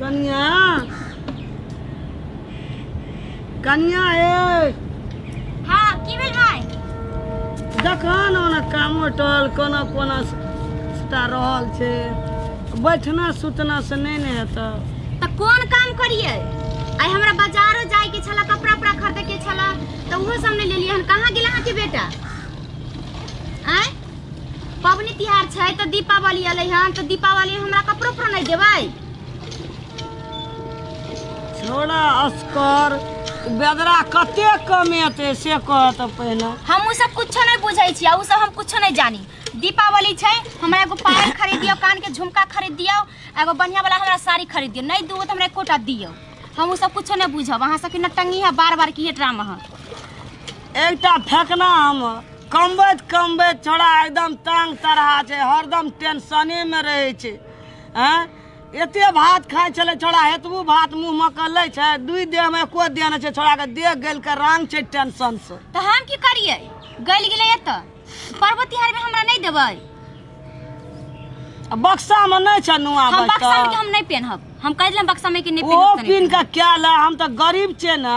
कनिया कनिया ए हाँ की भेल भाई देखन ओना कामो टल कोना कोना सुता रहल छै बैठना सुतना से नहि ने हेतौ तऽ कोन काम करियै आइ हमरा बाजारो जाय के छला कपड़ा उपड़ा खरीदे के छला तऽ ओहो सब ने लेलियै हन कहाँ गेल अहाँ के बेटा आय पबनी तिहार छै तऽ दीपावली अलै हन तऽ दीपावली में हमरा कपड़ो पर नहीं देबै छोड़ा असकर बेदरा कते कमेते से कहत पहले हम उ सब कुछो नहीं बुझै छी आ उ सब हम कुछो नहीं जानी दीपावली छै हमरा एगो पायल खरीद दियो कान के झुमका खरीद दियो आ एगो बढ़िया वाला हमरा साड़ी खरीद दियो नहीं दूगो तो हमरा एकोटा दियो हम उ सब कुछो नहीं बुझब अहाँ सबके नटंगी है बार बार की ड्रामा है एकटा फेकना हम कमबैत कमबैत छोड़ा एकदम तंग तरहा छै हरदम टेंशनेमे रहै छै आँय एते भात खाइ छलै छोड़ा एतबू भात मुँहमे कऽ लै छै दुइ देहमे एको देह नहि छै छोड़ाके देह गलि कऽ रंग छै टेंशनसँ तऽ हम की करियै गलि गेलै एतऽ पर्व तिहारमे हमरा नहि देबै आ बक्सामे नहि छै नुआ हम बक्सा के बचल हम नहीं पहनब हम कह दिलम बक्सा में कि नहीं ओहो पहनब कीन कऽ कए ले हम तऽ गरीब छियै ने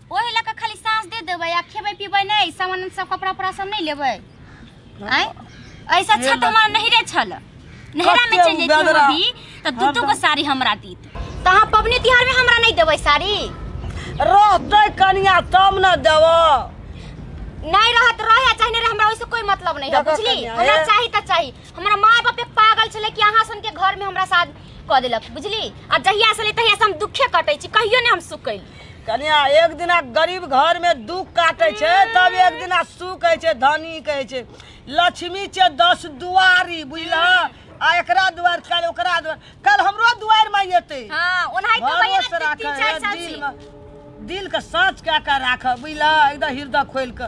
ओहे लऽ कऽ खाली साँस दे देबै आ खेबै पीबै नहि सामान सब कपड़ा उपड़ा सब नहि लेबै आँय ऐसा अच्छा तऽ हमरा नहिरे छल नहिरा में चलि जैती हम अभी तऽ दू दू गो साड़ी हमरा दीत तऽ अहाँ पबनी तिहार में हमरा नहि देबै साड़ी रहतै कनिया तब न देब नहीं रहत रहे आ चाहे नहीं रहे हमरा ओइसे कोई मतलब नहीं है देखो बुझली कन्या, हमरा ए- चाही त चाही हमरा माय बाप एक पागल छले कि अहाँ सन के घर में हमरा साथ क देलक बुझली आ जहिया से ले तहिया से हम दुखे कटै छी कहियो ने हम सुख कैली कनिया एक दिना गरीब घर में दुख काटे छे तब एक दिना सुख कहे छे धनी कहे छे लक्ष्मी छे दस दुआरी बुझला आ एकरा दुआर कल ओकरा दुआर कल हमरो दुआर में येते हाँ उन्हें तो भैया भरोस ने तीन राखऽ, चार साल दिल से में- दिल के साँच कए कऽ राखऽ बुझलऽ एकदम हृदय खोलि कऽ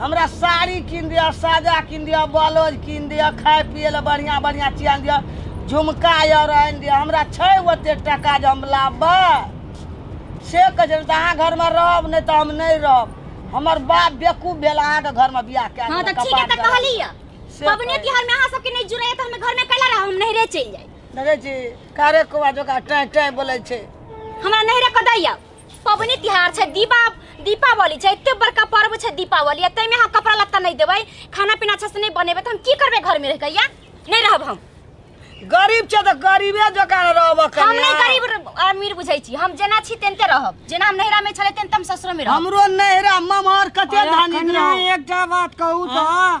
हमरा साड़ी कीन दिअ साजा कीन दिअ ब्लाउज कीन दिअ खाय पियै लए बढ़िआँ बढ़िआँ चीज आनि दिअ झुमका आर आनि दिअ हमरा छै ओतेक टाका जे हम लाबबै से कहै छै तऽ अहाँ घरमे रहब नहि तऽ हम नहि रहब हमर बाप बेकूफ भेल अहाँके घरमे बियाह कए हँ तऽ ठीक है तऽ कहली है पबनी तिहार में अहाँ सबके नहीं जुड़े तो हम घर में कैला रहा हम नहरे चल जाए नहरे जी कारे कोवा जोका टाइ टाइ बोले छे हमरा नहरे कदै आब पबनी तिहार छै दीपा दीपावली छै एते बड़का पर्व छै दीपावली एते में हम कपड़ा लत्ता नहीं देबै खाना पीना अच्छा से नहीं बनेबै तो हम की करबे घर में रह के या नहीं रहब हम गरीब छै तऽ गरीबे जकाँ रहब हम कनिया नहीं गरीब र- अमीर बुझै छी हम जेना छी तेनते रहब जेना हम नैहरा में छलै तेन हम ससुर में रहब हमरो नैहरा ममहर कते अरे धानी कनिया, रहू एकटा बात कहू तऽ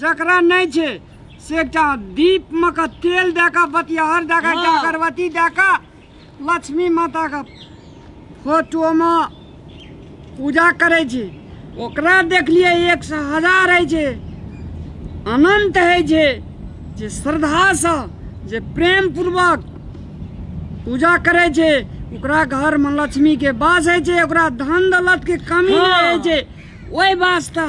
जकरा नहि छै से एकटा दीपमे के तेल दए कऽ बतियाहर दए कऽ एकटा अगरबत्ती दए कऽ लक्ष्मी माताके फोटोमे पूजा करै छै ओकरा देखलियै एक सए हजार होइ छै अनन्त होइ छै जे श्रद्धासँ जे प्रेमपूर्वक पूजा करै छै ओकरा घरमे लक्ष्मीके बास होइ छै ओकरा धन दौलतके कमी नहि होइ छै ओहि वास्ते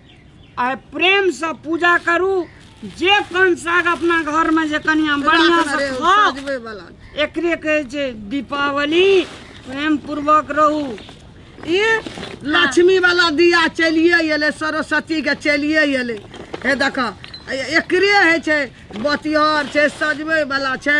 आइ प्रेमसँ पूजा करू जे कन साग अपना घरमे जे कनिया बढ़िआँसँ खाउ सजबै वाला एकरे कहै छै दीपावली प्रेम पूर्वक रहू ई लक्ष्मी वाला दिया चलिए एलै सरस्वती के चलिए एलै हे देखऽ एकरे होइ छै बतिहर छै सजबै वाला छै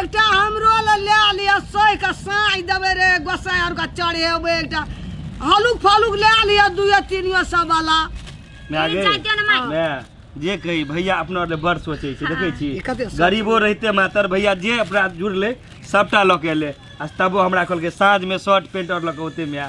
एकटा हमरो ले ले लिअ सोहि के साँइ देबै रे गोसाइ आर के चढ़ेबै एकटा हलुक फलुक ले लिअ दुए तीनियो सब वाला मैं आगे मैं जे कही भैया अपना ले बड़ सोचे छी देखे छी ई कते सोचै गरीबो रहते मातर भैया जे अपना जुड़ले सबटा लऽ के एले आ तबो हमरा कहलकै साँझमे शर्ट पेंट और लऽ के ओते में आ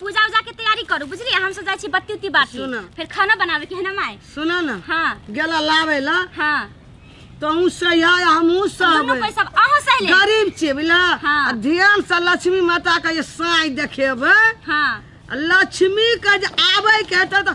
पूजा उजा के तैयारी करू बुझलियै हम सब जाइ छी बत्ती उत्ती बाटी सुनऽ। फिर खाना बनावे के है ना माय सुना ना हाँ गेला लावे ला हाँ तहूँ सही है हमहूँ दोनों सहबे कोई सब अहो सहले गरीब छियै बुझला हाँ। आ ध्यान से लक्ष्मी माता के जे साँई देखेबै हाँ आ लक्ष्मी के जे आबै के हेतै तऽ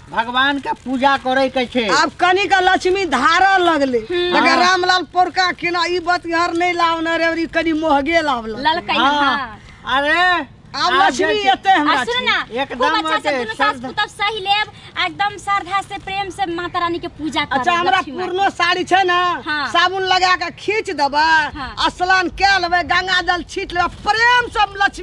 भगवान के पूजा करे के छे आब कनी का लक्ष्मी धारा लगले अगर रामलाल पोरका केना ई बात घर नहीं लावना रे अरे कनी मोहगे लावला ललका हाँ। हाँ अरे आब आब लक्ष्मी जे- एते आ हमरा सुन ना छी। एकदम खूब अच्छा से ओते दुनू सास श्रद्धा- पुतब सही लेब आ एकदम श्रद्धा से प्रेम से माता रानी के पूजा करब अच्छा हमरा लक्ष्मी माँ के। पुरनो साड़ी छै ना हाँ। साबुन लगा के खींच देबै हाँ। आ स्नान कए लेबै गंगा जल छीट लेबै प्रेम से हम लक्ष्मी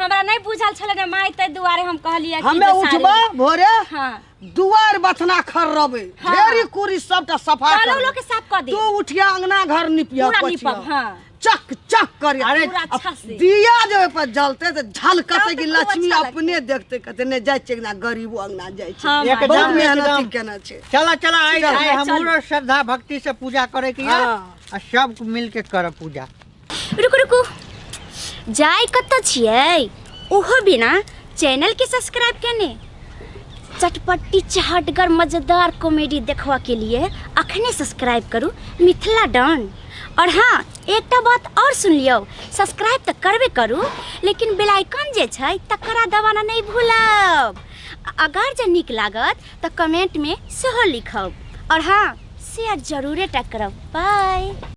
हमरा नहीं बुझल छले रे माई ते दुआरे हम कहलिए कि हमे जे साड़ी- उठबा भोरे हाँ दुआर बथना खर्रबे हाँ। ढेरी कुरी सबटा सफा कालो करबे। लोग के साफ कर दे तू उठिया अंगना घर निपिया पूरा पोछिया। निपब, हाँ। चक चक करी अरे पूरा अब अच्छा से। दिया जे ओइ पर जलते तो झलकते तब कि तो खूब लक्ष्मी अच्छा अपने देखते कहते ने जाय छै अंगना गरीबो अंगना जाय छै हाँ, एकदम, बहुत मेहनत एकदम। केना छै चला चला आइ चल, आइ चल। हमरो श्रद्धा भक्ति से पूजा करे के हाँ। है आ सब मिल के करब पूजा रुकू रुकू जाय कतऽ छियै ओहो बिना चैनल के सब्सक्राइब केने चटपट्टी चहटगर मजेदार कॉमेडी देखबा के लिए अखने सब्सक्राइब करू मिथिला डॉन और हाँ एकटा बात और सुन लियौ सब्सक्राइब तऽ करबे करू लेकिन बेल आइकन जे छै तकरा दबाना नहि भूलब अगर जे नीक लागत तऽ कमेंट में सेहो लिखब और हाँ शेयर जरूरे टा करब बाय